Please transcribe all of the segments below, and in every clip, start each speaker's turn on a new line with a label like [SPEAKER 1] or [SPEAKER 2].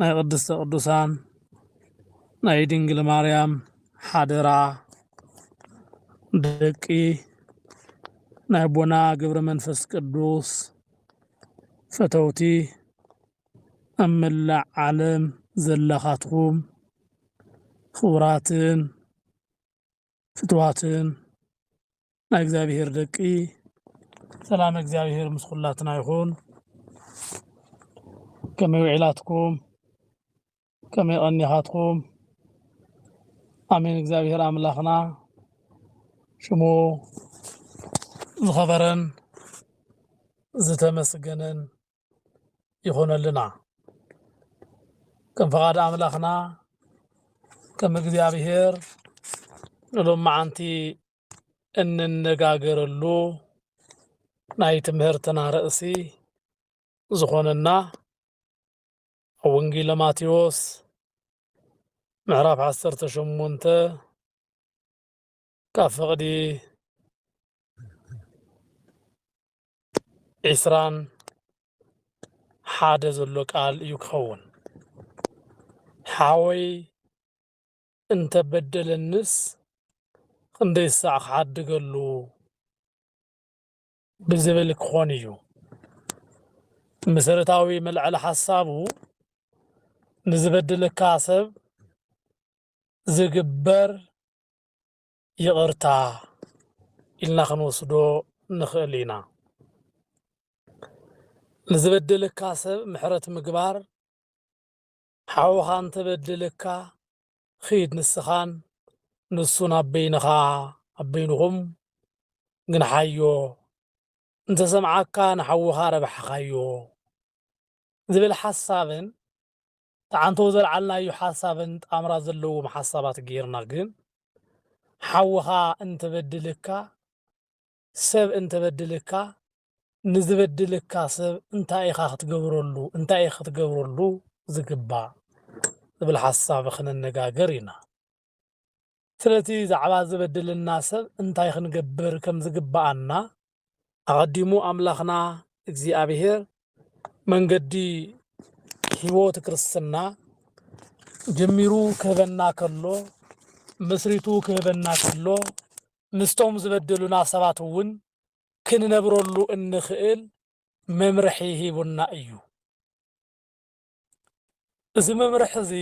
[SPEAKER 1] ናይ ቅድስተ ቅዱሳን ናይ ድንግል ማርያም ሓደራ ደቂ ናይ ኣቦና ግብረ መንፈስ ቅዱስ ፈተውቲ ኣብ መላእ ዓለም ዘለኻትኩም ክቡራትን ፍትዋትን ናይ እግዚኣብሔር ደቂ ሰላም እግዚኣብሔር ምስ ኩላትና ይኹን። ከመይ ውዒላትኩም? ከመይ ቀኒኻትኩም? ኣሜን። እግዚኣብሔር ኣምላኽና ሽሙ ዝኸበረን ዝተመስገነን ይኾነልና። ከም ፈቓድ ኣምላኽና ከም እግዚኣብሔር ንሎም መዓንቲ እንነጋገረሉ ናይ ትምህርትና ርእሲ ዝኾነና ኣብ ወንጌለ ማቴዎስ ምዕራፍ ዓሰርተ ሸሞንተ ካብ ፍቕዲ ዒስራን ሓደ ዘሎ ቃል እዩ ክኸውን ሓወይ እንተ በደለኒስ ኽንደይ ሳዕ ኽሓድገሉ ብዝብል ክኾን እዩ። እቲ መሰረታዊ መልዐሊ ሓሳቡ ንዝበደለካ ሰብ ዝግበር ይቕርታ ኢልና ኽንወስዶ ንኽእል ኢና። ንዝበደለካ ሰብ ምሕረት ምግባር ሓውኻ እንተበድልካ ኺድ ንስኻን ንሱን ኣብ በይንኻ ኣብ በይንኹም ግንሓዮ እንተሰምዓካ ንሓውኻ ረብሓኻዮ ዝብል ሓሳብን ትዓንቶ ዘልዓልናዮ ሓሳብን ጣምራ ዘለዎም ሓሳባት ጌርና ግን ሓውኻ እንተበድልካ ሰብ እንተ በድልካ ንዝበድልካ ሰብ እንታይ ኢኻ ክትገብረሉ እንታይ ኢኺ ክትገብረሉ ዝግባእ ዝብል ሓሳብ ክንነጋገር ኢና። ስለቲ ዛዕባ ዝበድለና ሰብ እንታይ ክንገብር ከም ዝግብኣና ኣቐዲሙ ኣምላኽና እግዚኣብሄር መንገዲ ሕይወት ክርስትና ጀሚሩ ክህበና ከሎ መስሪቱ ክህበና ከሎ ምስቶም ዝበደሉና ሰባት እውን ክንነብረሉ እንኽእል መምርሒ ሂቡና እዩ። እዚ መምርሒ እዚ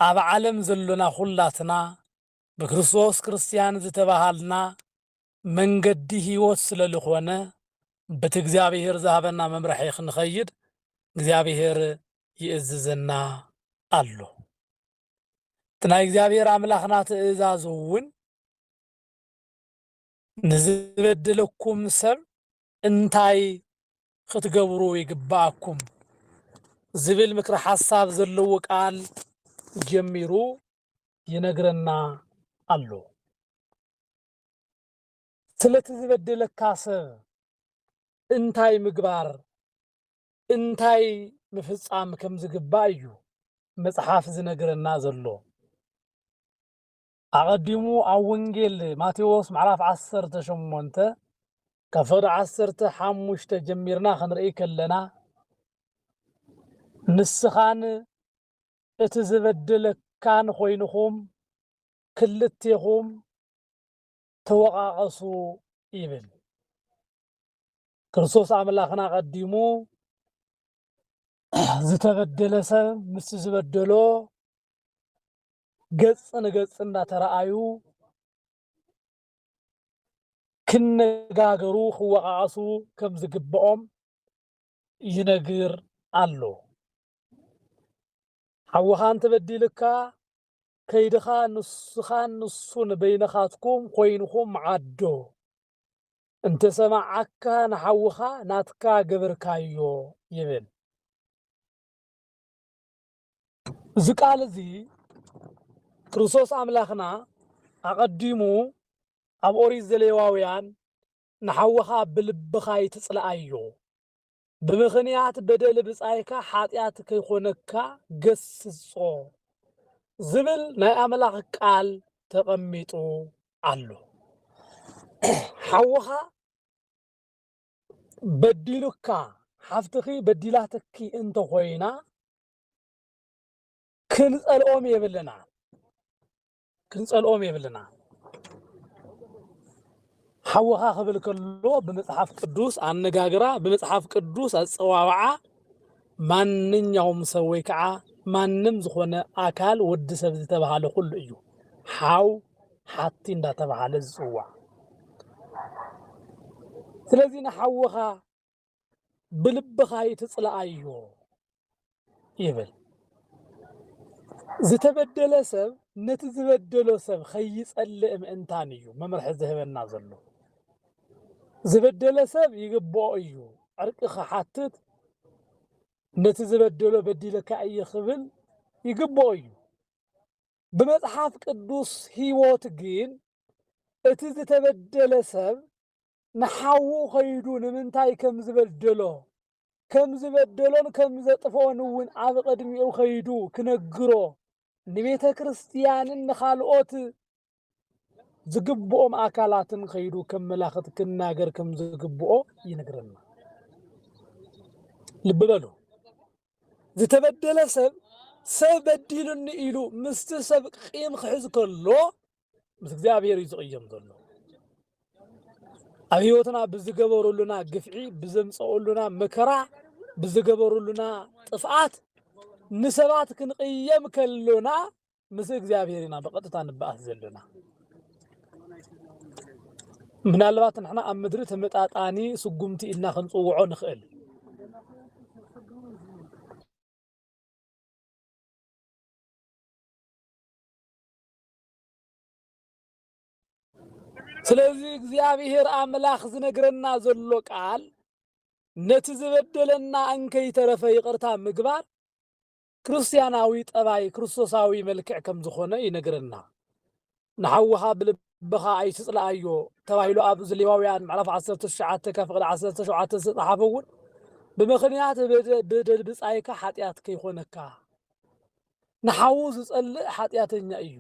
[SPEAKER 1] ኣብ ዓለም ዘሎና ዅላትና ብክርስቶስ ክርስትያን ዝተበሃልና መንገዲ ህይወት ስለ ልኾነ በቲ እግዚኣብሄር ዝሃበና መምርሒ ክንኸይድ እግዚኣብሄር ይእዝዘና ኣሎ። እቲ ናይ እግዚኣብሔር ኣምላኽና ትእዛዝ እውን ንዝበድለኩም ሰብ እንታይ ክትገብሩ ይግብኣኩም ዝብል ምክረ ሓሳብ ዘለዎ ቃል ጀሚሩ ይነግረና ኣሎ። ስለቲ ዝበደለካ ሰብ እንታይ ምግባር እንታይ ምፍጻም ከም ዝግባእ እዩ መጽሓፍ ዝነግረና ዘሎ። ኣቐዲሙ ኣብ ወንጌል ማቴዎስ ምዕራፍ ዓሰርተ ሸሞንተ ካብ ፍቕዲ ዓሰርተ ሓሙሽተ ጀሚርና ክንርእይ ከለና ንስኻን እቲ ዝበደለካን ኮይንኹም ክልቴኹም ተወቓቐሱ ይብል። ክርስቶስ ኣምላኽና ቀዲሙ ዝተበደለ ሰብ ምስ ዝበደሎ ገጽ ንገጽ እናተረኣዩ ክነጋገሩ ክወቓቐሱ ከም ዝግብኦም ይነግር ኣሎ። ሓውኻ እንተበዲልካ ከይድኻ ንስኻን ንሱን በይንኻትኩም ኮይንኹም ዓዶ እንተሰማዓካ ንሓውኻ ናትካ ገብርካዮ ይብል። እዚ ቃል እዚ ክርስቶስ ኣምላኽና ኣቐዲሙ ኣብ ኦሪት ዘሌዋውያን ንሓውኻ ብልብኻ ኣይትጽልኣዮ ብምኽንያት በደል ብጻይካ ሓጢኣት ከይኮነካ ገስጾ ዝብል ናይ ኣምላኽ ቃል ተቐሚጡ ኣሎ። ሓውኻ በዲሉካ ሓፍትኺ በዲላትኪ እንተኾይና ክንጸልኦም የብልና። ክንጸልኦም የብልና ሓወኻ ክብል ከሎ ብመጽሓፍ ቅዱስ ኣነጋግራ ብመጽሓፍ ቅዱስ ኣጸዋውዓ ማንኛውም ሰብ ወይ ከዓ ማንም ዝኾነ ኣካል ወዲ ሰብ ዝተባሃለ ኩሉ እዩ ሓው ሓቲ እንዳተባሃለ ዝፅዋዕ ስለዚ ንሓወኻ ብልብኻ ኣይትጽልኣዮ ይብል። ዝተበደለ ሰብ ነቲ ዝበደሎ ሰብ ከይጸልእ ምእንታን እዩ መምርሒ ዝህበና ዘሎ። ዝበደለ ሰብ ይግብኦ እዩ ዕርቂ ክሓትት ነቲ ዝበደሎ በዲለካ እየ ክብል ይግብኦ እዩ። ብመጽሓፍ ቅዱስ ህይወት ግን እቲ ዝተበደለ ሰብ ንሓዉ ከይዱ ንምንታይ ከም ዝበደሎ፣ ከም ዝበደሎን ከም ዘጥፍኦን እውን ኣብ ቕድሚኡ ከይዱ ክነግሮ፣ ንቤተ ክርስቲያንን ንኻልኦት ዝግብኦም ኣካላትን ከይዱ ከመላኽት ክናገር ከም ዝግብኦ ይነግረና። ልቢ በሉ፣ ዝተበደለ ሰብ ሰብ በዲሉኒ ኢሉ ምስቲ ሰብ ቂም ክሕዝ ከሎ ምስ እግዚኣብሔር እዩ ዝቕየም ዘሎ ኣብ ህይወትና ብዝገበሩሉና ግፍዒ ብዘምፀኡሉና መከራ ብዝገበሩሉና ጥፍኣት ንሰባት ክንቕየም ከሎና ምስ እግዚኣብሔር ኢና ብቐጥታ ንበኣስ ዘለና ምናልባት ንሕና ኣብ ምድሪ ተመጣጣኒ ስጉምቲ ኢልና ክንፅውዖ ንኽእል ስለዚ እግዚኣብሔር ኣምላኽ ዝነግረና ዘሎ ቃል ነቲ ዝበደለና እንከይተረፈ ይቅርታ ምግባር ክርስቲያናዊ ጠባይ ክርስቶሳዊ መልክዕ ከም ዝኾነ ይነግረና። ንሓውኻ ብልብኻ ኣይትጽልኣዮ ተባሂሉ ኣብ ዘሌዋውያን ምዕራፍ 19 ካብ ፍቕዲ 17 ዝተጻሓፈ እውን ብምኽንያት ብደል ብጻይካ ሓጢኣት ከይኾነካ ንሓዉ ዝጸልእ ሓጢኣተኛ እዩ።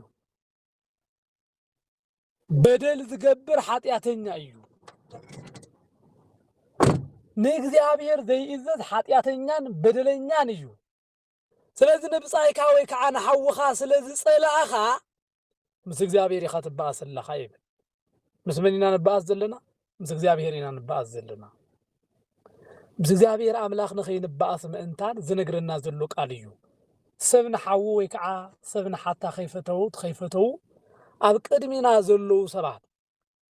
[SPEAKER 1] በደል ዝገብር ሓጢኣተኛ እዩ። ንእግዚኣብሔር ዘይእዘዝ ሓጢኣተኛን በደለኛን እዩ። ስለዚ ንብጻይካ ወይ ከዓ ንሓውኻ ስለ ዝጸላእኻ ምስ እግዚኣብሔር ኢኻ ትበኣስ ኣለኻ ይብል ምስ መን ኢና ንበኣስ ዘለና ምስ እግዚኣብሔር ኢና ንበኣስ ዘለና ምስ እግዚኣብሔር ኣምላኽ ንኸይንበኣስ ምእንታን ዝነግረና ዘሎ ቃል እዩ ሰብ ንሓዉ ወይ ከዓ ሰብ ንሓታ ከይፈተውት ከይፈተዉ ኣብ ቅድሚና ዘለዉ ሰባት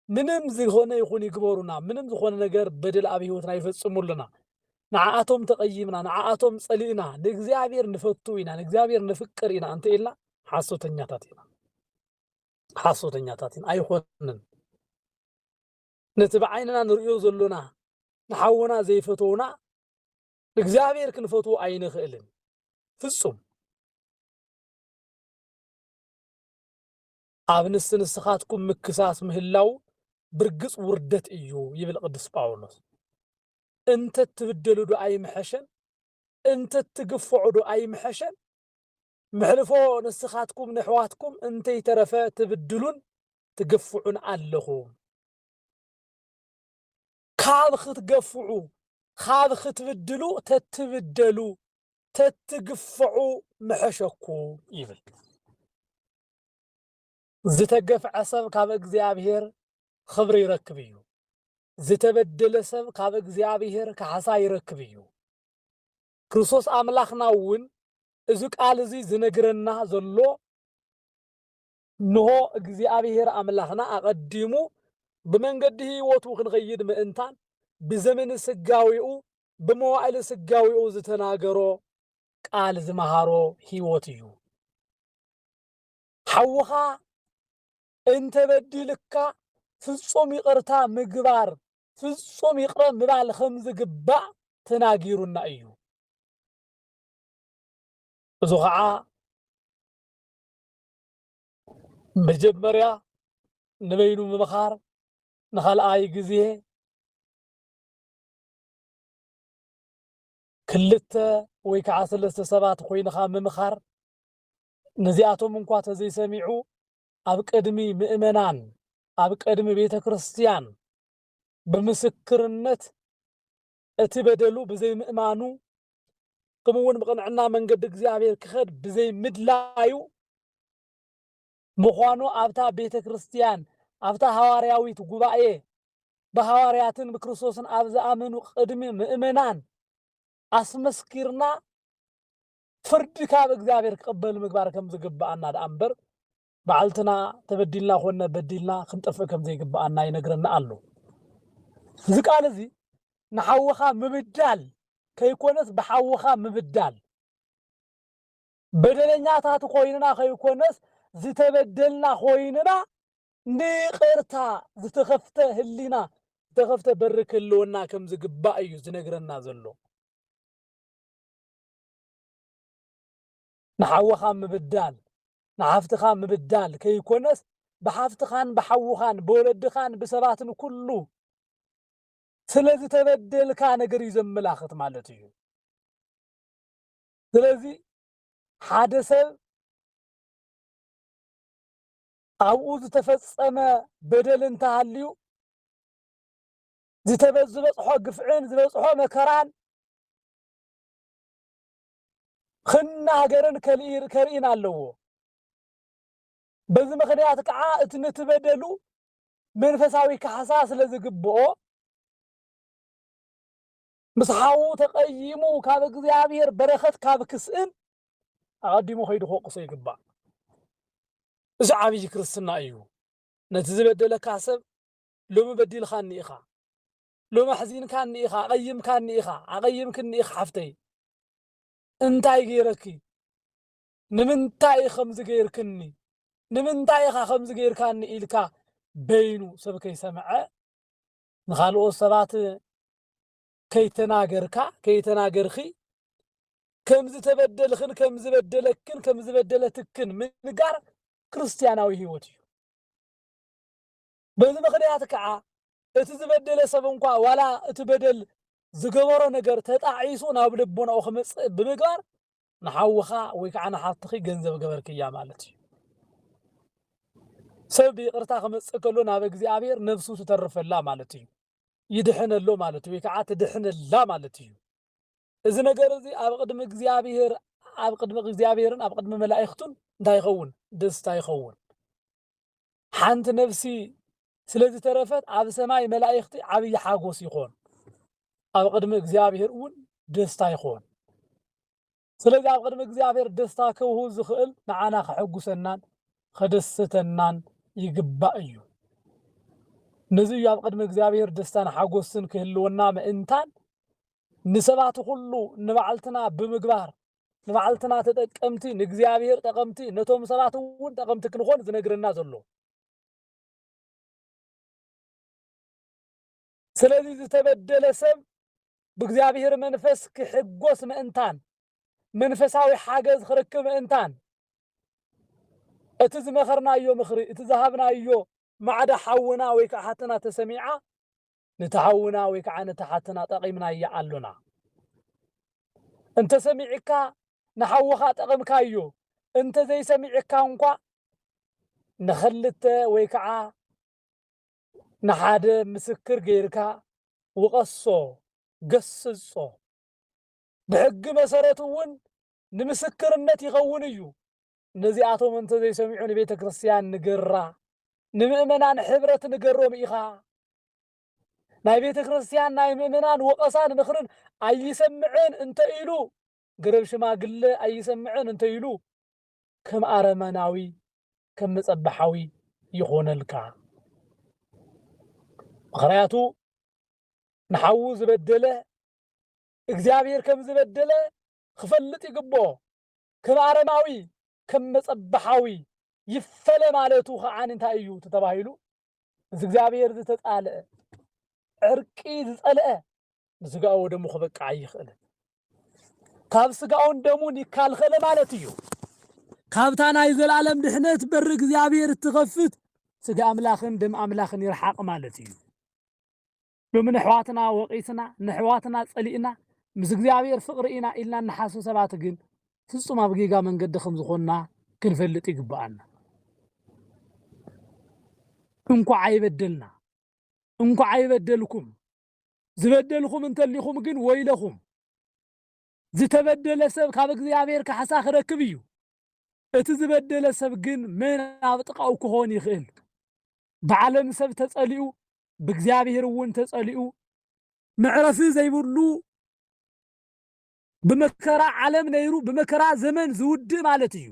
[SPEAKER 1] ምንም ዝኮነ ይኩን ይግበሩና ምንም ዝኮነ ነገር በደል ኣብ ሂወትና ይፈጽሙ ኣለና ንዓኣቶም ተቀይምና ንዓኣቶም ጸሊእና ንእግዚኣብሔር ንፈቱ ኢና ንእግዚኣብሔር ነፍቅር ኢና እንተ ኢልና ሓሶተኛታት ኢና ሓሶተኛታት ኢና ኣይኮንን ነቲ ብዓይንና ንርእዮ ዘሎና ንሓውና ዘይፈተውና ንእግዚኣብሔር ክንፈትዎ ኣይንኽእልን ፍጹም ኣብ ንስ ንስኻትኩም ምክሳስ ምህላው ብርግጽ ውርደት እዩ ይብል ቅዱስ ጳውሎስ። እንተ እትብደሉዶ ኣይምሐሸን? እንተ እትግፍዑዶ ኣይምሐሸን? ምሕልፎ ንስኻትኩም ነሕዋትኩም እንተይተረፈ ትብድሉን ትግፍዑን ኣለኹም። ካብ ክትገፍዑ ካብ ክትብድሉ ተትብደሉ ተትግፍዑ ምሐሸኩም ይብል። ዝተገፍዐ ሰብ ካብ እግዚኣብሔር ኽብሪ ይረክብ እዩ ዝተበደለ ሰብ ካብ እግዚኣብሔር ካሕሳ ይረክብ እዩ ክርስቶስ ኣምላኽና እውን እዚ ቃል እዚ ዝነግረና ዘሎ እንሆ እግዚኣብሔር ኣምላኽና ኣቐዲሙ ብመንገዲ ህይወቱ ክንኸይድ ምእንታን ብዘመን ስጋዊኡ ብመዋዕሊ ስጋዊኡ ዝተናገሮ ቃል ዝመሃሮ ህይወት እዩ ሓውኻ እንተበዲልካ ፍጹም ይቕርታ ምግባር፣ ፍጹም ይቕረ ምባል ከም ዝግባእ ተናጊሩና እዩ። እዚ ኸዓ መጀመርያ ንበይኑ ምምኻር፣ ንኻልኣይ ግዜ ክልተ ወይ ከኣ ሰለስተ ሰባት ኾይንኻ ምምኻር፣ ነዚኣቶም እንኳ ተዘይሰሚዑ ኣብ ቅድሚ ምእመናን፣ ኣብ ቅድሚ ቤተ ክርስቲያን ብምስክርነት እቲ በደሉ ብዘይምእማኑ ክምኡውን ብቕንዕና መንገዲ እግዚኣብሔር ክኸድ ብዘይምድላዩ፣ ምዃኑ ኣብታ ቤተ ክርስቲያን ኣብታ ሃዋርያዊት ጉባኤ ብሃዋርያትን ብክርስቶስን ኣብ ዝኣመኑ ቅድሚ ምእመናን ኣስመስኪርና ፍርዲ ካብ እግዚኣብሔር ክቕበል ምግባር ከም ዝግብኣና ደኣ እምበር ባዕልትና ተበዲልና ኮነ በዲልና ክንጠፍእ ከም ዘይግብኣና ይነግረና ኣሎ። እዚ ቃል እዚ ንሓውኻ ምብዳል ከይኮነስ ብሓውኻ ምብዳል በደለኛታት ዀይንና ኸይኰነስ፣ ዝተበደልና ዀይንና ንይቕርታ ዝተኸፍተ ህሊና፣ ዝተኸፍተ በሪ ክህልወና ከም ዝግባእ እዩ ዚነግረና ዘሎ። ንሓውኻ ምብዳል፣ ንሓፍትኻ ምብዳል ከይኰነስ፣ ብሓፍትኻን ብሓውኻን ብወለድኻን ብሰባትን ኵሉ ስለ ዝተበደልካ ነገር እዩ ዘመላኽት ማለት እዩ። ስለዚ ሓደ ሰብ ኣብኡ ዝተፈጸመ በደል እንተሃልዩ ዝተበዝበጽሖ ግፍዕን ዝበጽሖ መከራን ክናገርን ከርኢን ኣለዎ። በዚ ምክንያት ከዓ እቲ ነቲ በደሉ መንፈሳዊ ካሕሳ ስለ ዝግብኦ ምስ ሓዉ ተቐይሙ ካብ እግዚኣብሔር በረኸት ካብ ክስእን ኣቐዲሙ ከይዱ ክወቅሶ ይግባእ። እዚ ዓብይ ክርስትና እዩ። ነቲ ዝበደለካ ሰብ ሎሚ በዲልካኒ ኢኻ፣ ሎሚ ኣሕዚንካኒ ኢኻ፣ ኣቐይምካኒ ኢኻ፣ ኣቐይምክኒ ኢኺ ሓፍተይ፣ እንታይ ገይረኪ፣ ንምንታይ እዩ ከምዚ ገይርክኒ፣ ንምንታይ ኢኻ ከምዚ ገይርካኒ ኢልካ በይኑ ሰብ ከይሰምዐ ንኻልኦት ሰባት ከይተናገርካ ከይተናገርኺ ከም ዝተበደልኽን ከም ዝበደለክን ከም ዝበደለትክን ምንጋር ክርስትያናዊ ህይወት እዩ በዚ ምክንያት ከዓ እቲ ዝበደለ ሰብ እንኳ ዋላ እቲ በደል ዝገበሮ ነገር ተጣዒሱ ናብ ልቦናኡ ክመፅእ ብምግባር ንሓውኻ ወይ ከዓ ንሓፍትኺ ገንዘብ ገበርክያ ማለት እዩ። ሰብ ብይቕርታ ክመፅእ ከሎ ናብ እግዚኣብሔር ነብሱ ትተርፈላ ማለት እዩ። ይድሕነሎ ማለት እዩ ወይ ከዓ ትድሕነላ ማለት እዩ። እዚ ነገር እዚ ኣብ ቅድሚ እግዚኣብሔር ኣብ ቅድሚ እግዚኣብሔርን ኣብ ቅድሚ መላእኽቱን እንታይ ይኸውን? ደስታ ይኸውን። ሓንቲ ነፍሲ ስለ ዝተረፈት ኣብ ሰማይ መላኢኽቲ ዓብዪ ሓጎስ ይኾን፣ ኣብ ቅድሚ እግዚኣብሔር እውን ደስታ ይኾን። ስለዚ ኣብ ቅድሚ እግዚኣብሔር ደስታ ከውህው ዝኽእል ንዓና ከሐጉሰናን ከደስተናን ይግባእ እዩ። ነዚ እዩ ኣብ ቅድሚ እግዚኣብሔር ደስታን ሓጎስን ክህልወና ምእንታን ንሰባት ኹሉ ንባዕልትና ብምግባር ንባዕልትና ተጠቀምቲ ንእግዚኣብሔር ጠቐምቲ ነቶም ሰባት እውን ጠቐምቲ ክንኾን ዝነግረና ዘሎ ስለዚ ዝተበደለ ሰብ ብእግዚኣብሔር መንፈስ ክሕጎስ ምእንታን መንፈሳዊ ሓገዝ ክረክብ ምእንታን እቲ ዝመኸርናዮ ምኽሪ እቲ ዝሃብናዮ ማዕዳ ሓውና ወይ ከዓ ሓትና ተሰሚዓ ንቲ ሓውና ወይ ከዓ ነታ ሓትና ጠቂምናያ ኣሎና እንተሰሚዕካ ንሓውኻ ጠቅምካዮ እንተዘይሰሚዕካ እንኳዕ ንክልተ ወይ ከዓ ንሓደ ምስክር ገይርካ ውቀሶ ገስጾ ብሕጊ መሰረት እውን ንምስክርነት ይኸውን እዩ ነዚኣቶም እንተ ዘይሰሚዑ ንቤተ ክርስቲያን ንገራ፣ ንምእመናን ሕብረት ንገሮም ኢኻ። ናይ ቤተ ክርስቲያን ናይ ምእመናን ወቐሳን ምኽርን ኣይሰምዕን እንተ ኢሉ፣ ገረብ ሽማግለ ኣይሰምዕን እንተ ኢሉ፣ ከም ኣረመናዊ ከም መጸበሓዊ ይኾነልካ። ምኽንያቱ ንሓዉ ዝበደለ እግዚኣብሔር ከም ዝበደለ ክፈልጥ ይግብኦ። ክብ ኣረማዊ ክብ መጸብሓዊ ይፈለ ማለቱ ከዓኒ እንታይ እዩ ተተባሂሉ ምስ እግዚኣብሔር ዝተጻልአ ዕርቂ ዝጸልአ ንስጋኡ ወደሙ ክበቅዕ ኣይኽእልን ካብ ስጋኡን ደሙን ይካልኸለ ማለት እዩ። ካብታ ናይ ዘላለም ድሕነት በሪ እግዚኣብሔር እትኸፍት ስጋ ኣምላኽን ደም ኣምላኽን ይርሓቕ ማለት እዩ። ሎሚ ነሕዋትና ወቒስና ነሕዋትና ጸሊእና ምስ እግዚኣብሔር ፍቕሪ ኢና ኢልና እንሓስብ ሰባት ግን ፍጹም ኣብ ጌጋ መንገዲ ከም ዝኾንና ክንፈልጥ ይግብኣና። እንኳዕ ኣይበደልና እንኳዕ ኣይበደልኩም ዝበደልኹም እንተሊኹም ግን ወይለኹም ዝተበደለ ሰብ ካብ እግዚኣብሔር ካሕሳ ክረክብ እዩ እቲ ዝበደለ ሰብ ግን መን ኣብ ጥቓኡ ክኾን ይኽእል ብዓለም ሰብ ተጸሊኡ ብእግዚኣብሔር እውን ተጸሊኡ መዕረፊ ዘይብሉ ብመከራ ዓለም ነይሩ ብመከራ ዘመን ዝውድእ ማለት እዩ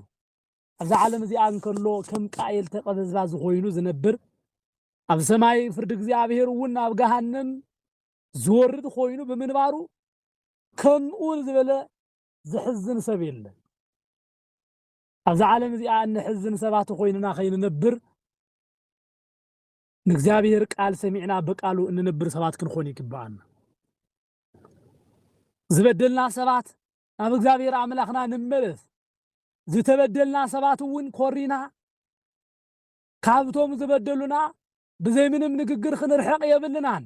[SPEAKER 1] ኣብዛ ዓለም እዚኣ እንከሎ ከም ቃኤል ተቐበዝባ ዝኾይኑ ዝነብር ኣብ ሰማይ ፍርዲ እግዚኣብሔር እውን ናብ ገሃነም ዝወርድ ኮይኑ ብምንባሩ ከምኡ ዝበለ ዝሕዝን ሰብ የለን ኣብዚ ዓለም እዚኣ እንሕዝን ሰባት ኮይንና ከይንነብር ንእግዚኣብሔር ቃል ሰሚዕና በቃሉ እንነብር ሰባት ክንኾን ይግብኣና። ዝበደልና ሰባት ናብ እግዚኣብሔር ኣምላኽና ንመለስ። ዝተበደልና ሰባት እውን ኮሪና ካብቶም ዝበደሉና ብዘይ ምንም ንግግር ክንርሕቕ የብልናን።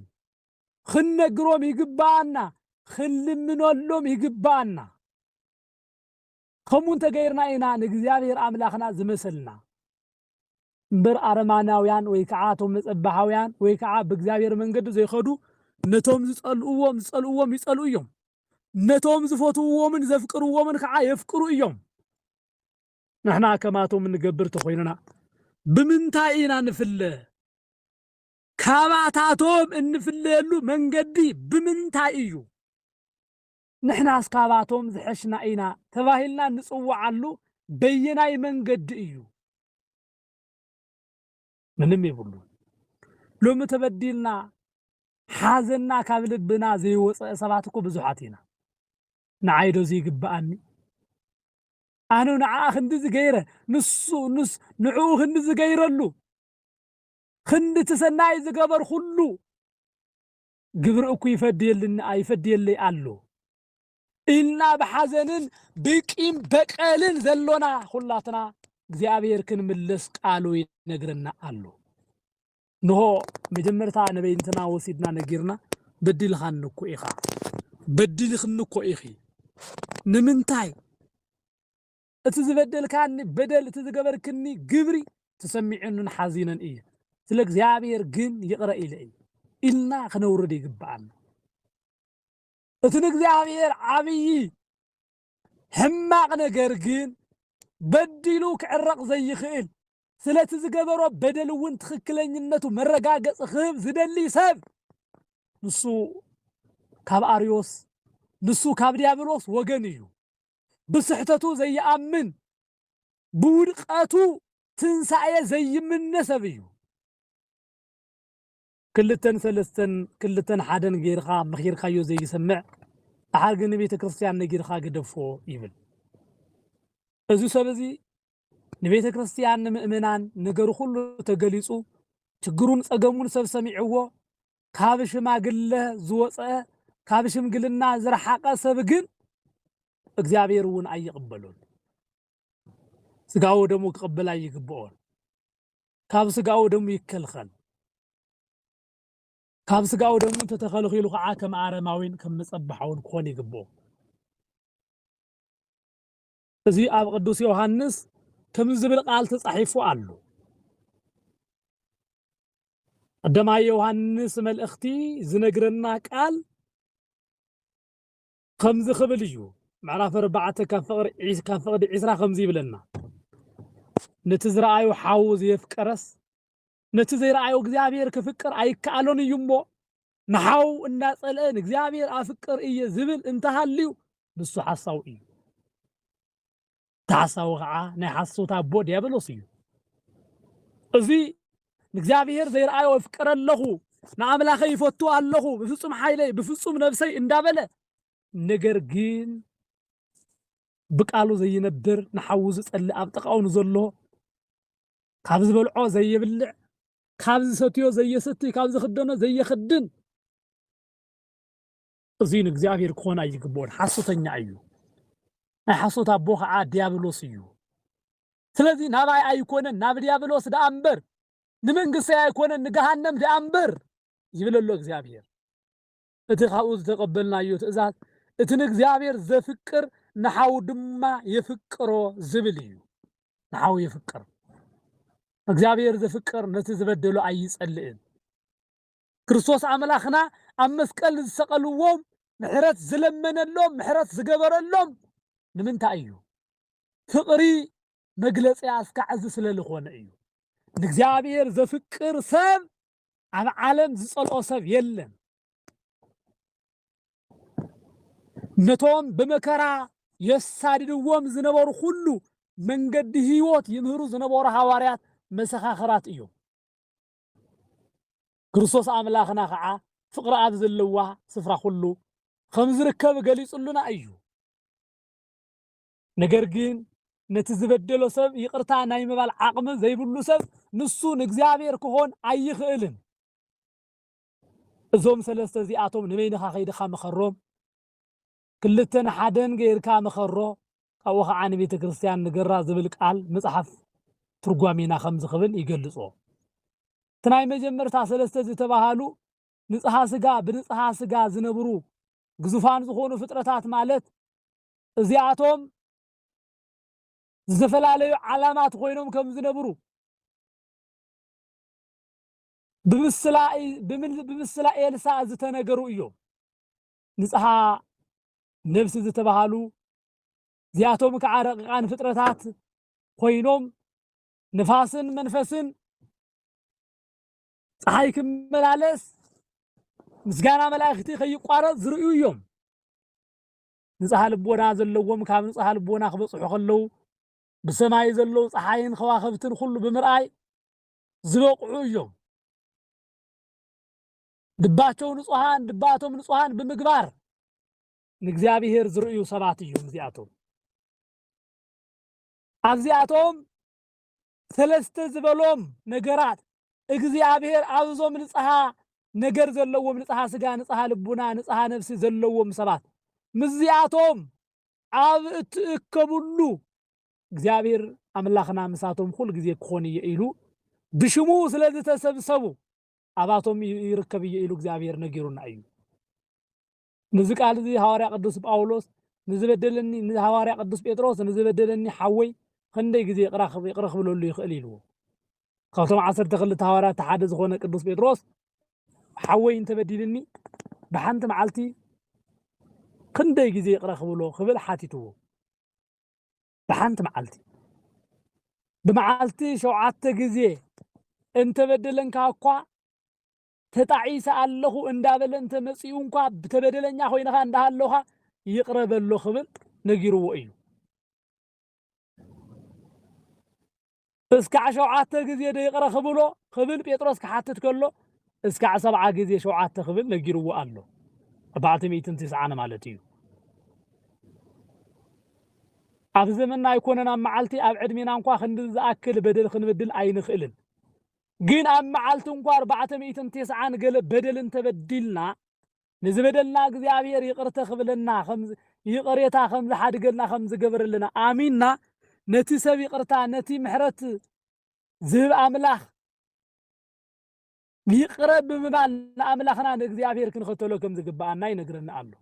[SPEAKER 1] ክንነግሮም ይግባኣና፣ ክንልምነሎም ይግባኣና። ከምኡ እንተገይርና ኢና ንእግዚኣብሔር ኣምላኽና ዝመሰልና። እምበር ኣረማናውያን ወይ ከዓ እቶም መጸባሃውያን ወይ ከዓ ብእግዚኣብሔር መንገዲ ዘይኸዱ ነቶም ዝጸልእዎም ዝጸልእዎም ይጸልኡ እዮም፣ ነቶም ዝፈትውዎምን ዘፍቅርዎምን ከዓ የፍቅሩ እዮም። ንሕና ከማቶም እንገብር ተኾይንና ብምንታይ ኢና ንፍለ? ካባታቶም እንፍለየሉ መንገዲ ብምንታይ እዩ? ንሕናስ ካባቶም ዝሐሽና ኢና ተባሂልና ንፅወዓሉ በየናይ መንገዲ እዩ? ምንም የብሉን። ሎሚ ተበዲልና ሓዘንና ካብ ልብና ዘይወፀ ሰባት እኮ ብዙሓት ኢና። ንዓይ ዶ ዘይግበኣኒ? ኣነ ንዓኣ ክንድዚ ገይረ፣ ንሱ ንዕኡ ክንዲ ዝገይረሉ፣ ክንዲ እቲ ሰናይ ዝገበርኹሉ፣ ግብሪ እኩይ ይፈድየልና ይፈድየለይ ኣሎ ኢልና ብሓዘንን ብቂም በቀልን ዘሎና ኹላትና እግዚኣብሔር ክንምለስ ቃሉ ይነግረና ኣሎ ንሆ መጀመርታ ንበይንትና ወሲድና ነጊርና በዲልኻኒ እኮ ኢኻ በዲልኽኒ እኮ ኢኺ ንምንታይ እቲ ዝበደልካኒ በደል እቲ ዝገበርክኒ ግብሪ ተሰሚዑንን ሓዚነን እየ፣ ስለ እግዚኣብሔር ግን ይቕረ ኢለ እየ ኢልና ክነውርድ ይግብኣና። እቲ ንእግዚኣብሔር ዓብዪ ሕማቕ ነገር ግን በዲሉ ክዕረቕ ዘይኽእል ስለቲ ዝገበሮ በደል እውን ትኽክለኝነቱ መረጋገፂ ክህብ ዝደሊ ሰብ ንሱ ካብ ኣርዮስ ንሱ ካብ ዲያብሎስ ወገን እዩ። ብስሕተቱ ዘይኣምን ብውድቀቱ ትንሳኤ ዘይምነ ሰብ እዩ። ክልተን ሰለስተን ክልተን ሓደን ገይርካ መኺርካዮ ዘይሰምዕ ደሓር ግን ንቤተ ክርስትያን ነጊርካ ግደፎ ይብል። እዚ ሰብ እዚ ንቤተ ክርስትያን ንምእመናን ነገሩ ኩሉ ተገሊጹ ችግሩን ጸገሙን ሰብ ሰሚዕዎ ካብ ሽማግለ ዝወጸ ካብ ሽምግልና ዝረሓቀ ሰብ ግን እግዚኣብሔር እውን ኣይቕበሎን ስጋዊ ደሙ ክቕበል ኣይግብኦን ካብ ስጋዊ ደሙ ይከልኸል ካብ ስጋዊ ደሙ እንተተኸልኺሉ ከዓ ከም ኣረማዊን ከም መጸባሓውን ክኾን ይግብኦ እዚ ኣብ ቅዱስ ዮሃንስ ክምዚ ዝብል ቃል ተጻሒፉ ኣሎ። ቀደማይ ዮሃንስ መልእኽቲ ዝነግረና ቃል ከምዚ ክብል እዩ ምዕራፍ ኣርባዕተ ካብ ፍቕሪ ካብ ፍቕዲ ዒስራ ከምዚ ይብለና ነቲ ዝረኣዩ ሓዉ ዘየፍቀረስ ነቲ ዘይረኣዩ እግዚኣብሔር ክፍቅር ኣይከኣሎን እዩ እሞ ንሓው እንዳጸልአ ንእግዚኣብሔር ኣፍቅር እየ ዝብል እንተሃልዩ ንሱ ሓሳዊ እዩ። እቲ ሓሳዊ ከዓ ናይ ሓሶት ኣቦ ዲያብሎስ እዩ። እዚ ንእግዚኣብሔር ዘይረኣዮ እፍቅር ኣለኹ፣ ንኣምላኸይ ይፈቱ ኣለኹ፣ ብፍጹም ሓይለይ፣ ብፍጹም ነብሰይ እንዳበለ ነገር ግን ብቃሉ ዘይነብር ንሓዉ ዝጸልእ ኣብ ጥቃኡ ንዘሎ ካብ ዝበልዖ ዘይብልዕ፣ ካብ ዝሰትዮ ዘየሰትይ፣ ካብ ዝኽደኖ ዘየኽድን፣ እዙይ ንእግዚኣብሔር ክኾን ኣይግብኦን፣ ሓሶተኛ እዩ፣ ናይ ሓሶት ኣቦ ኸዓ ዲያብሎስ እዩ። ስለዙይ ናባይ ኣይኮነን ናብ ዲያብሎስ ደኣ እምበር፣ ንመንግስተይ ኣይኮነን ንገሃነም ደኣ እምበር ይብል ኣሎ እግዚኣብሔር። እቲ ካብኡ ዝተቐበልናዮ ትእዛዝ፣ እቲ ንእግዚኣብሔር ዘፍቅር ንሓዉ ድማ የፍቅሮ ዝብል እዩ። ንሓዉ የፍቅር። እግዚኣብሔር ዘፍቅር ነቲ ዝበደሎ ኣይጸልእን። ክርስቶስ ኣምላኽና ኣብ መስቀል ንዝሰቐልዎም ምሕረት ዝለመነሎም፣ ምሕረት ዝገበረሎም ንምንታይ እዩ? ፍቕሪ መግለጺ ኣስካዕ እዚ ስለ ልኾነ እዩ። ንእግዚኣብሔር ዘፍቅር ሰብ ኣብ ዓለም ዝጸልኦ ሰብ የለን። ነቶም ብመከራ የሳድድዎም ዝነበሩ ኩሉ መንገዲ ህይወት ይምህሩ ዝነበሩ ሃዋርያት መሰኻኽራት እዮም። ክርስቶስ ኣምላኽና ከዓ ፍቕሪ ኣብ ዘለዋ ስፍራ ኩሉ ከም ዝርከብ ገሊጹልና እዩ። ነገር ግን ነቲ ዝበደሎ ሰብ ይቅርታ ናይ ምባል ዓቅሚ ዘይብሉ ሰብ ንሱ ንእግዚኣብሔር ክኾን ኣይኽእልን። እዞም ሰለስተ እዚኣቶም ንበይንኻ ከይድኻ ምኸሮም። ክልተ ንሓደን ገይርካ ምኸሮ። ካብኡ ኸዓ ንቤተክርስትያን ንገራ ዝብል ቃል ምጽሓፍ ትርጓሜና ከምዚ ክብል ይገልጾ። እቲ ናይ መጀመርታ ሰለስተ ዝተባሃሉ ንጽሃ ስጋ ብንጽሃ ስጋ ዝነብሩ ግዙፋን ዝኾኑ ፍጥረታት ማለት እዚኣቶም ዝተፈላለዩ ዓላማት ኮይኖም ከም ዝነብሩ ብምስላ ኤልሳ ዝተነገሩ እዮም። ንጽሓ ነብሲ ዝተባሃሉ እዚኣቶም ከዓ ረቂቃን ፍጥረታት ኮይኖም ንፋስን መንፈስን ፀሓይ ክመላለስ ምስጋና መላእክቲ ከይቋረፅ ዝርእዩ እዮም። ንጽሃ ልቦና ዘለዎም ካብ ንጽሃ ልቦና ክበጽሑ ከለዉ ብሰማይ ዘለዉ ጸሓይን ኸዋኽብትን ኹሉ ብምርኣይ ዝበቕዑ እዮም። ልባቸው ንጹሃን ልባቶም ንጹሃን ብምግባር ንእግዚኣብሔር ዝርእዩ ሰባት እዮም እዚኣቶም። ኣብዚኣቶም ሰለስተ ዝበሎም ነገራት እግዚኣብሔር ኣብዞም ንጽሃ ነገር ዘለዎም ንጽሃ ስጋ ንጽሃ ልቡና ንጽሃ ነፍሲ ዘለዎም ሰባት ምስዚኣቶም ኣብ እትእከብሉ እግዚኣብሔር ኣምላኽና ምሳቶም ኩሉ ግዜ ክኾን እየ ኢሉ ብሽሙ ስለ ዝተሰብሰቡ ኣባቶም ይርከብ እየ ኢሉ እግዚኣብሔር ነጊሩና እዩ። ነዚ ቃል እዚ ሃዋርያ ቅዱስ ጳውሎስ ንዝበደለኒ ንሃዋርያ ቅዱስ ጴጥሮስ ንዝበደለኒ ሓወይ ኽንደይ ግዜ ይቕረ ኽብለሉ ይኽእል ኢልዎ። ካብቶም ዓሰርተ ክልተ ሃዋርያት እቲ ሓደ ዝኾነ ቅዱስ ጴጥሮስ ሓወይ እንተበዲልኒ ብሓንቲ መዓልቲ ክንደይ ግዜ ይቕረ ክብሎ ክብል ሓቲትዎ። ብሓንቲ መዓልቲ ብመዓልቲ ሸውዓተ ግዜ እንተበደለንካ እኳ ተጣዒሰ ኣለኹ እንዳበለ እንተመጺኡ እንኳ ተበደለኛ ኮይንኻ እንዳሃለኻ ይቕረ በሎ ክብል ነጊርዎ እዩ። እስካዕ ሸውዓተ ግዜ ዶ ይቕረ ክብሎ ክብል ጴጥሮስ ክሓትት ከሎ እስካዕ ሰብዓ ግዜ ሸውዓተ ክብል ነጊርዎ ኣሎ። ኣርባዕተ ሚእትን ትስዓን ማለት እዩ። ኣብ ዘመንና ኣይኮነን ኣብ መዓልቲ ኣብ ዕድሜና እንኳ ክንድዚ ዝኣክል በደል ክንበድል ኣይንኽእልን። ግን ኣብ መዓልቲ እንኳ ኣርባዕተ ሚእትን ቴስዓን ገለ በደል እንተበዲልና ንዝበደልና እግዚኣብሔር ይቅርተ ክብለና ይቅሬታ ከምዝሓድገልና ከምዝገበረልና ኣሚንና ነቲ ሰብ ይቅርታ ነቲ ምሕረት ዝህብ ኣምላኽ ይቅረ ብምባል ንኣምላኽና ንእግዚኣብሔር ክንኸተሎ ከምዝግብኣና ይነግረና ኣሎ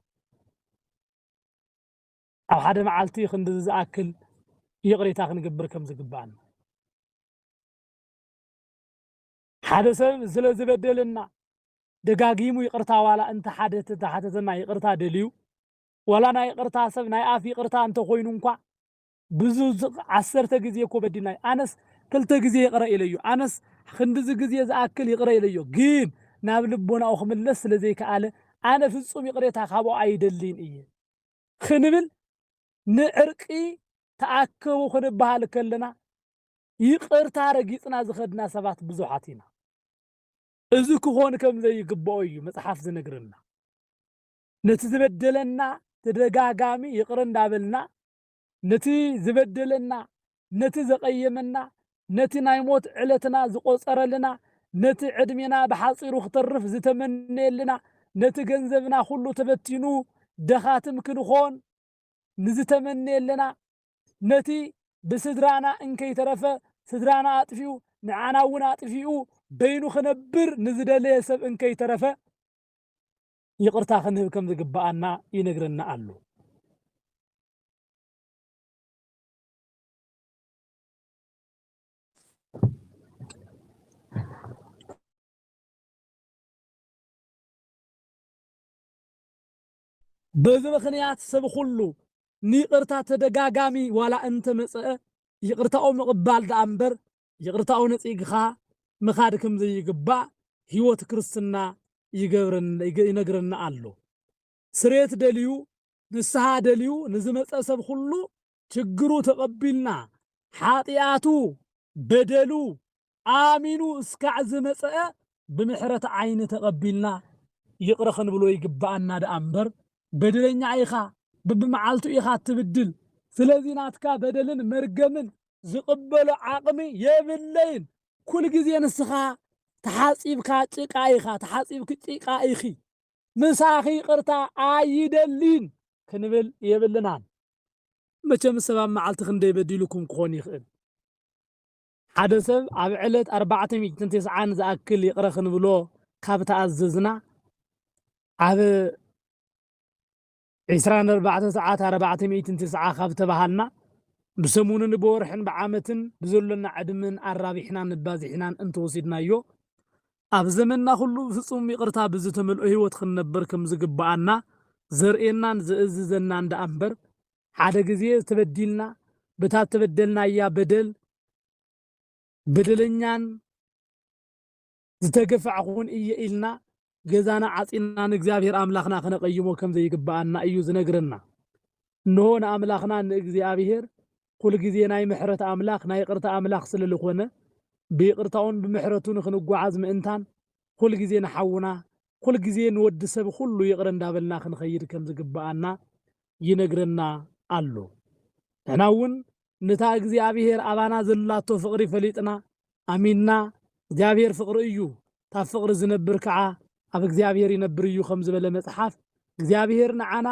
[SPEAKER 1] ኣብ ሓደ መዓልቲ ክንዲ ዝኣክል ይቅሬታ ክንገብር ከምዝግብኣና ሓደ ሰብ ስለ ዝበደለና ደጋጊሙ ይቅርታ ዋላ እንተ ሓደ ተሓተተና ይቅርታ ደልዩ ዋላ ናይ ይቅርታ ሰብ ናይ ኣፍ ይቅርታ እንተ ኮይኑ እንኳዕ ብዙ ዓሰርተ ግዜ እኮ በዲልናዮ ኣነስ ክልተ ግዜ ይቅረ ኢለዮ ኣነስ ክንድዚ ግዜ ዝኣክል ይቅረ ኢለዮ ግን ናብ ልቦናኡ ክምለስ ስለ ዘይከኣለ ኣነ ፍጹም ይቅሬታ ካብኦ ኣይደልይን እየ ክንብል ንዕርቂ ተኣከቡ ክንበሃል ከለና ይቅርታ ረጊጽና ዝኸድና ሰባት ብዙሓት ኢና። እዚ ክኾን ከም ዘይግብኦ እዩ መጽሓፍ ዝነግረና። ነቲ ዝበደለና ተደጋጋሚ ይቅረ እንዳበልና ነቲ ዝበደለና ነቲ ዘቀየመና ነቲ ናይ ሞት ዕለትና ዝቆጸረልና ነቲ ዕድሜና ብሓጺሩ ክተርፍ ዝተመነየልና ነቲ ገንዘብና ኩሉ ተበቲኑ ደኻትም ክንኾን ንዝተመነየለና ነቲ ብስድራና እንከይተረፈ ስድራና ኣጥፊኡ ንዓና እውን ኣጥፊኡ በይኑ ክነብር ንዝደለየ ሰብ እንከይተረፈ ይቕርታ ክንህብ ከም ዝግብኣና ይነግረና ኣሎ። በዚ ምኽንያት ሰብ ኹሉ ንይቕርታ ተደጋጋሚ ዋላ እንተመጸኣ ይቕርታኡ ምቕባል ደኣ እምበር ይቕርታኡ ነጺግኻ ምኻድ ከምዘይግባእ ሕይወት ክርስትና ይነግረና ኣሎ። ስርየት ደልዩ ንስሃ ደልዩ ንዝመጸ ሰብ ኹሉ ችግሩ ተቐቢልና ሓጥያቱ በደሉ ኣሚኑ እስካዕ ዝመጸኣ ብምሕረት ዓይኒ ተቐቢልና ይቕረ ክንብሎ ይግበኣና ደኣ እምበር በደለኛ ኢኻ በብመዓልቱ ኢኻ እትብድል ስለዚ ናትካ በደልን መርገምን ዝቕበሎ ዓቕሚ የብለይን ኩልግዜ ንስኻ ተሓጺብካ ጭቃ ኢኻ ተሓጺብኪ ጭቃ ኢኺ ምሳኺ ይቅርታ ኣይደሊን ክንብል የብልናን። መቸም ሰብ ኣብ መዓልቲ ክንደይ በዲሉኩም ክኾን ይኽእል? ሓደ ሰብ ኣብ ዕለት ኣርባዕተ ሚእትን ተስዓን ዝኣክል ይቅረ ክንብሎ ካብ ተኣዘዝና ኣብ ዕስራን ኣርባዕተን ሰዓት ኣርባዕተ ሚእትን ትስዓ ካብ ተበሃልና፣ ብሰሙንን ብወርሕን ብዓመትን ብዘሎና ዕድመን ኣራቢሕናን ኣባዚሕናን እንተወሲድናዮ፣ ኣብ ዘመንና ኩሉ ብፍጹም ይቕርታ ብዝተመልኦ ህይወት ክንነብር ከም ዝግብኣና ዘርእየናን ዝእዝዘናን ደኣ እምበር፣ ሓደ ግዜ ተበዲልና፣ በታ እተበደልናያ በደል በደለኛን፣ ዝተገፋዕኩውን እየ ኢልና ገዛና ዓጺና ንእግዚኣብሔር ኣምላኽና ክነቐይሞ ከም ዘይግብኣና እዩ ዝነግረና። እንሆ ንኣምላኽና ንእግዚኣብሔር ኩል ጊዜ ናይ ምሕረት ኣምላኽ ናይ ይቕርታ ኣምላኽ ስለ ልኾነ ብይቕርታኡን ብምሕረቱ ንክንጓዓዝ ምእንታን ኩል ጊዜ ንሓውና ኩል ጊዜ ንወዲ ሰብ ኹሉ ይቕረ እንዳበልና ክንኸይድ ከም ዝግብኣና ይነግረና ኣሎ። ንሕናውን ንታ እግዚኣብሔር ኣባና ዘላቶ ፍቅሪ ፈሊጥና ኣሚንና እግዚኣብሔር ፍቅሪ እዩ ታብ ፍቅሪ ዝነብር ከዓ ኣብ እግዚኣብሔር ይነብር እዩ ከም ዝበለ መፅሓፍ እግዚኣብሔር ንዓና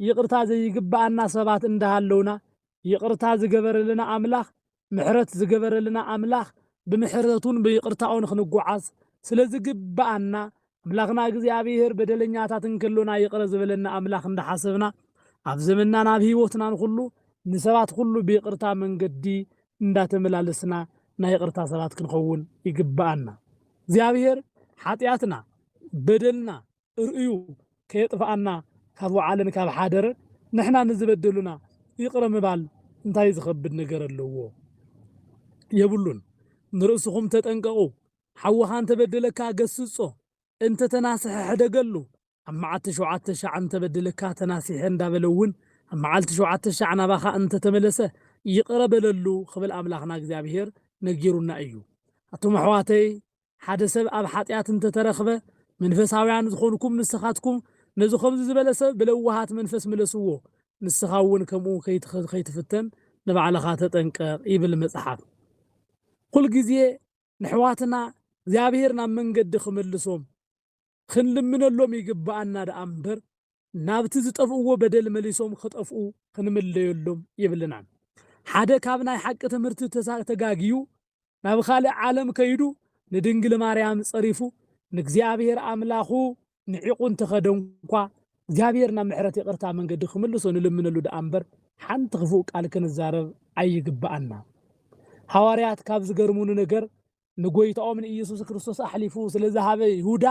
[SPEAKER 1] ይቅርታ ዘይግበኣና ሰባት እንዳሃለውና ይቅርታ ዝገበረልና ኣምላክ ምሕረት ዝገበረልና ኣምላክ ብምሕረቱን ብይቅርታኡን ክንጎዓዝ ስለዝግበኣና ኣምላኽና እግዚኣብሄር በደለኛታት እንከሎና ይቕረ ዝበለና ኣምላኽ እንዳሓሰብና ኣብ ዘመንናን ኣብ ህይወትናን ኹሉ ንሰባት ኹሉ ብይቕርታ መንገዲ እንዳተመላለስና ናይ ይቕርታ ሰባት ክንኸውን ይግበኣና። እግዚኣብሄር ሓጥያትና በደልና ርእዩ ከየጥፍኣና ካብ ወዓለን ካብ ሓደረ ንሕና ንዝበደሉና ይቕረ ምባል እንታይ ዝኸብድ ነገር ኣለዎ? የብሉን። ንርእስኹም ተጠንቀቑ ሓውኻ እንተበደለካ ገስጾ፣ እንተ ተናስሐ ሕደገሉ፣ ኣብ መዓቲ ሸውዓተ ሻዕ እንተ በደለካ ተናሲሐ እንዳበለ እውን ኣብ መዓልቲ ሸውዓተ ሻዕ ናባኻ እንተ ተመለሰ ይቕረ በለሉ ክብል ኣምላኽና እግዚኣብሄር ነጊሩና እዩ። ኣቱም ኣሕዋተይ ሓደ ሰብ ኣብ ሓጢኣት እንተ ተረኽበ መንፈሳውያን ዝኾንኩም ንስኻትኩም ነዚ ከምዚ ዝበለ ሰብ ብለዋሃት መንፈስ ምለስዎ ንስኻ እውን ከምኡ ከይትፍተን ንባዕልኻ ተጠንቀቕ ይብል መጽሓፍ ኩልግዜ ነሕዋትና እግዚኣብሄር ናብ መንገዲ ክምልሶም ኽንልምነሎም ይግብኣና ደኣ እምበር ናብቲ ዝጠፍእዎ በደል መሊሶም ኽጠፍኡ ኽንምለዮሎም የብልናን። ሓደ ካብ ናይ ሓቂ ትምህርቲ ተጋግዩ ናብ ኻልእ ዓለም ከይዱ ንድንግል ማርያም ጸሪፉ ንእግዚኣብሄር ኣምላኹ ንዒቑ እንተኸደንኳ፣ እግዚኣብሔር ናብ ምሕረት ይቕርታ መንገዲ ክምልሶ ንልምነሉ ደኣ እምበር ሓንቲ ክፉእ ቃል ክንዛረብ ኣይግበኣና። ሃዋርያት ካብ ዝገርሙኒ ነገር ንጎይታኦም ንኢየሱስ ክርስቶስ ኣሕሊፉ ስለ ዝሃበ ይሁዳ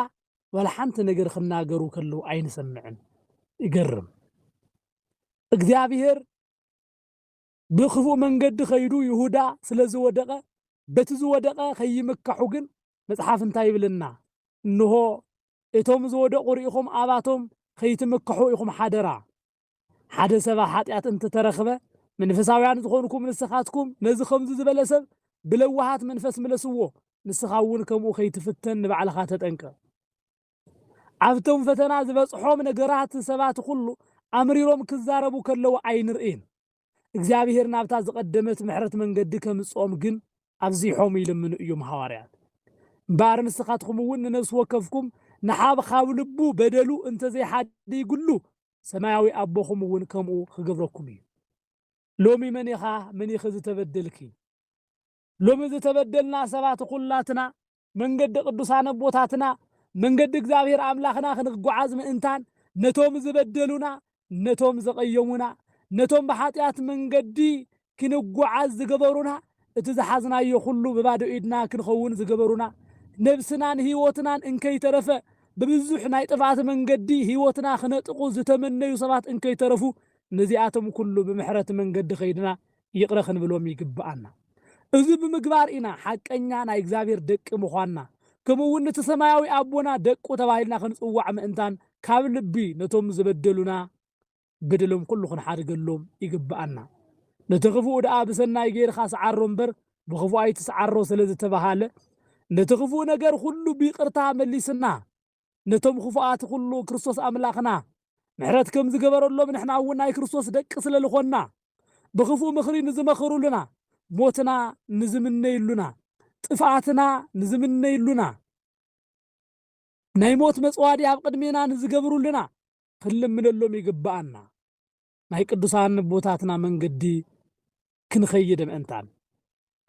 [SPEAKER 1] ዋላ ሓንቲ ነገር ክናገሩ ከለዉ ኣይንሰምዕን። ይገርም። እግዚኣብሔር ብኽፉእ መንገዲ ከይዱ ይሁዳ ስለ ዝወደቐ፣ በቲ ዝወደቐ ኸይምካሑ ግን መጽሓፍ እንታይ ይብለና? እንሆ፣ እቶም ዝወደቑ ርኢኹም ኣባቶም ኸይትምክሑ ኢኹም ሓደራ። ሓደ ሰባ ሓጢኣት እንተ ተረኽበ፣ መንፈሳውያን ዝኾንኩም ንስኻትኩም ነዚ ኸምዚ ዝበለ ሰብ ብለዋሃት መንፈስ ምለስዎ፣ ንስኻ እውን ከምኡ ኸይትፍተን ንባዕልኻ ተጠንቀቕ። ኣብቶም ፈተና ዝበጽሖም ነገራት ሰባት ኹሉ ኣምሪሮም ክዛረቡ ከለዉ ኣይንርእይን። እግዚኣብሄር ናብታ ዝቐደመት ምሕረት መንገዲ ከምጽኦም ግን ኣብዚሖም ይልምኑ እዩም ሃዋርያት። እምበኣር ንስኻትኹምውን ንነፍሲ ወከፍኩም ንሓብ ኻብ ልቡ በደሉ እንተ ዘይሓድይግሉ ሰማያዊ ኣቦኹምውን ከምኡ ኽገብረኩም እዩ። ሎሚ መን ኢኻ መን ኢኺ ዝተበደልኪ? ሎሚ ዝተበደልና ሰባት ኹላትና መንገዲ ቅዱሳን ኣቦታትና መንገዲ እግዚኣብሔር ኣምላኽና ክንጓዓዝ ምእንታን ነቶም ዝበደሉና ነቶም ዘቐየሙና ነቶም ብሓጢኣት መንገዲ ክንጓዓዝ ዝገበሩና እቲ ዝሓዝናዮ ኹሉ ብባዶ ኢድና ክንኸውን ዝገበሩና ነብስናን ሕይወትናን እንከይተረፈ ብብዙሕ ናይ ጥፍኣት መንገዲ ሕይወትና ክነጥቑ ዝተመነዩ ሰባት እንከይተረፉ ነዚኣቶም ኩሉ ብምሕረት መንገዲ ከይድና ይቕረ ክንብሎም ይግብኣና። እዚ ብምግባር ኢና ሓቀኛ ናይ እግዚኣብሔር ደቂ ምዃንና ከምኡ እውን ንቲ ሰማያዊ ኣቦና ደቁ ተባሂልና ክንጽዋዕ ምእንታን ካብ ልቢ ነቶም ዝበደሉና በደሎም ኩሉ ክንሓድገሎም ይግብኣና። ነቲ ክፉእ ደኣ ብሰናይ ገይርካ ስዓሮ እምበር ብክፉእ ኣይትስዓሮ ስለዝተበሃለ ነቲ ክፉእ ነገር ኩሉ ብይቕርታ መሊስና ነቶም ኽፉኣት ኹሉ ክርስቶስ ኣምላኽና ምሕረት ከም ዝገበረሎም ንሕና እውን ናይ ክርስቶስ ደቂ ስለ ልኾንና ብኽፉእ ምኽሪ ንዝመኸሩሉና ሞትና ንዝምነይሉና ጥፍኣትና ንዝምነይሉና ናይ ሞት መጽዋዲ ኣብ ቅድሜና ንዝገብሩልና ክንልምነሎም ይግብኣና ናይ ቅዱሳን ኣቦታትና መንገዲ ክንኸይድ ምእንታን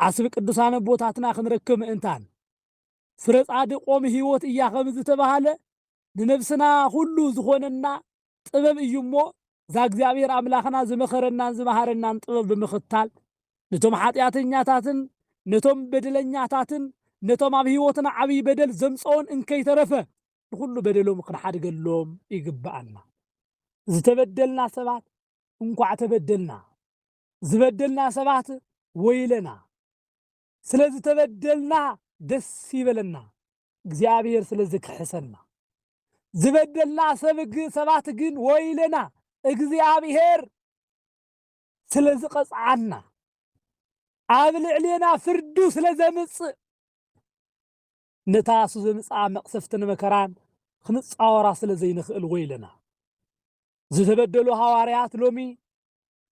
[SPEAKER 1] ዓስቢ ቅዱሳን ኣቦታትና ክንረክብ ምእንታን ፍረ ጻድቅ ኦም ሕይወት እያ ከም ዝተባህለ ንነብስና ኩሉ ዝኾነና ጥበብ እዩ እሞ ዛእግዚኣብሔር ኣምላኽና ዝመኸረናን ዝመሃረናን ጥበብ ብምኽታል ነቶም ሓጢኣተኛታትን ነቶም በደለኛታትን ነቶም ኣብ ሕይወትና ዓብይ በደል ዘምጸኡን እንከይተረፈ ንኹሉ በደሎም ክንሓድገሎም ይግብኣና። ዝተበደልና ሰባት እንኳዕ ተበደልና ዝበደልና ሰባት ወይለና። ስለ ዝተበደልና ደስ ይበለና እግዚኣብሔር ስለ ዝክሕሰና ዝበደልና ሰብ ሰባት ግን ወይለና እግዚኣብሔር ስለ ዝቐጽዓና ኣብ ልዕሌና ፍርዱ ስለ ዘምጽእ ነታ እሱ ዘምጽኣ መቕሰፍትን መከራን ክንጻወራ ስለ ዘይንኽእል ወይለና ዝተበደሉ ሃዋርያት ሎሚ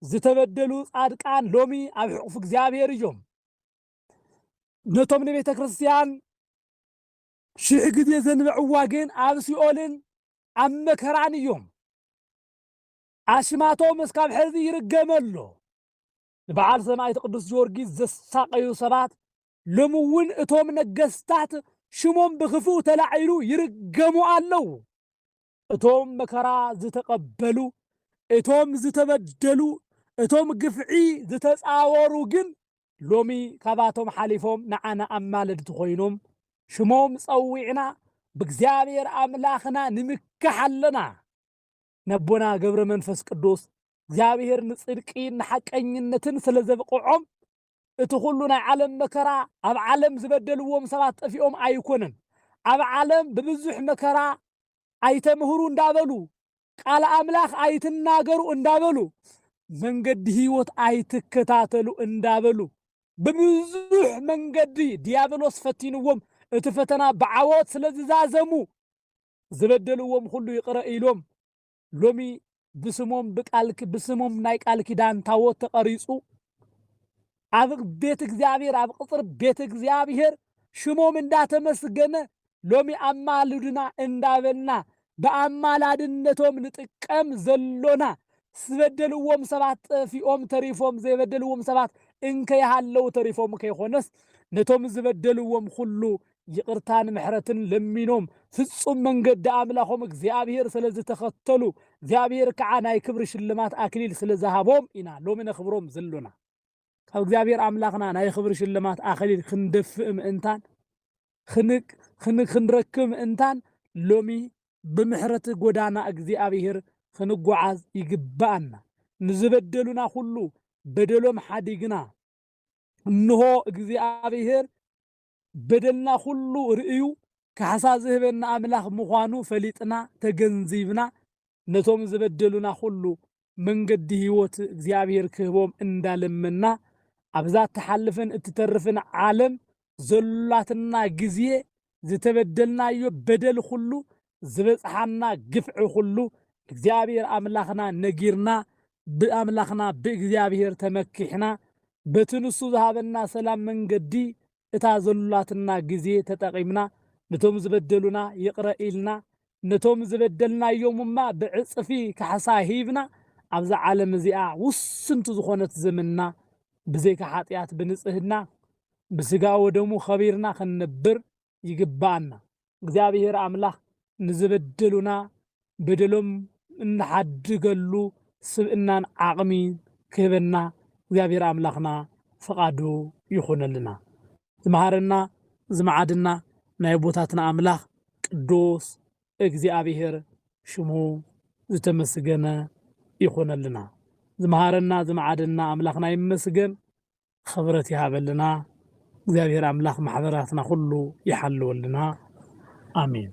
[SPEAKER 1] ዝተበደሉ ጻድቃን ሎሚ ኣብ ሕቑፍ እግዚኣብሔር እዮም ነቶም ንቤተ ክርስቲያን ሽሕ ግዜ ዘንበዕዋ ግን ኣብ ሲኦልን ኣብ መከራን እዮም ኣሽማቶም እስካብ ሕዚ ይርገመ ኣሎ ንበዓል ሰማዕት ቅዱስ ጊዮርጊስ ዘሳቀዩ ሰባት ሎሚ እውን እቶም ነገስታት ሽሞም ብክፉእ ተላዒሉ ይርገሙ ኣለዉ። እቶም መከራ ዝተቐበሉ፣ እቶም ዝተበደሉ፣ እቶም ግፍዒ ዝተጻወሩ ግን ሎሚ ካባቶም ሓሊፎም ንዓና ኣማለድቲ ኮይኖም ሽሞም ጸዊዕና ብእግዚኣብሔር ኣምላኽና ንምካሕ ኣለና። ነቦና ገብረ መንፈስ ቅዱስ እግዚኣብሔር ንጽድቂ ንሓቀኝነትን ስለዘብቕዖም እቲ ኩሉ ናይ ዓለም መከራ ኣብ ዓለም ዝበደልዎም ሰባት ጠፊኦም ኣይኮነን ኣብ ዓለም ብብዙሕ መከራ ኣይተምህሩ እንዳበሉ ቃል ኣምላኽ ኣይትናገሩ እንዳበሉ መንገዲ ህይወት ኣይትከታተሉ እንዳበሉ ብብዙሕ መንገዲ ዲያብሎስ ፈቲንዎም እቲ ፈተና ብዓወት ስለዝዛዘሙ ዝበደልዎም ኩሉ ይቅረ ኢሎም ሎሚ ብስሞም ብቃል ብስሞም ናይ ቃል ኪዳን ታቦት ተቐሪጹ ኣብ ቤት እግዚኣብሔር ኣብ ቅጽር ቤት እግዚኣብሔር ሽሞም እንዳተመስገነ ሎሚ ኣማልዱና እንዳበልና ብኣማላድነቶም ንጥቀም ዘሎና ዝበደልዎም ሰባት ጠፊኦም ተሪፎም ዘይበደልዎም ሰባት እንከይሃለዉ ተሪፎም ከይኮነስ ነቶም ዝበደልዎም ኩሉ ይቕርታን ምሕረትን ለሚኖም ፍጹም መንገዲ ኣምላኾም እግዚኣብሔር ስለ ዝተኸተሉ እግዚኣብሔር ከዓ ናይ ክብሪ ሽልማት ኣክሊል ስለ ዝሃቦም ኢና ሎሚ ነኽብሮም ዘሎና። ካብ እግዚኣብሔር ኣምላኽና ናይ ክብሪ ሽልማት ኣክሊል ክንደፍእ ምእንታን ክንረክብ ምእንታን ሎሚ ብምሕረት ጎዳና እግዚኣብሔር ክንጓዓዝ ይግብኣና። ንዝበደሉና ኩሉ በደሎም ሓዲግና እንሆ እግዚኣብሔር በደልና ኩሉ ርእዩ ካሕሳ ዝህበና ኣምላኽ ምዃኑ ፈሊጥና ተገንዚብና ነቶም ዝበደሉና ኩሉ መንገዲ ሕይወት እግዚኣብሔር ክህቦም እንዳለመና ኣብዛ እትሓልፍን እትተርፍን ዓለም ዘሎትና ግዜ ዝተበደልናዮ በደል ኩሉ ዝበጽሓና ግፍዒ ኩሉ እግዚኣብሔር ኣምላክና ነጊርና ብኣምላክና ብእግዚኣብሔር ተመኪሕና በቲ ንሱ ዝሃበና ሰላም መንገዲ እታ ዘሉላትና ግዜ ተጠቂምና ንቶም ዝበደሉና ይቅረ ኢልና ነቶም ዝበደልናዮም እማ ብዕጽፊ ካሕሳ ሂብና ኣብዛ ዓለም እዚኣ ውስንቲ ዝኮነት ዘመንና ብዘይካ ሓጥያት ብንጽህና ብስጋ ወደሙ ከቢርና ክንነብር ይግብኣና። እግዚኣብሄር ኣምላኽ ንዝበደሉና በደሎም እንሓድገሉ ስብእናን ዓቕሚን ክህበና እግዚኣብሄር ኣምላኽና ፍቓዱ ይኹነልና። ዝመሃረና ዝመዓደና ናይ ኣቦታትና ኣምላኽ ቅዱስ እግዚኣብሄር ሽሙ ዝተመስገነ ይኹነልና። ዝመሃረና ዝመዓደና ኣምላኽና ይመስገን። ኽብረት ይሃበልና እግዚኣብሔር ኣምላክ ማሕበራትና ኩሉ ይሓልወልና ኣሜን።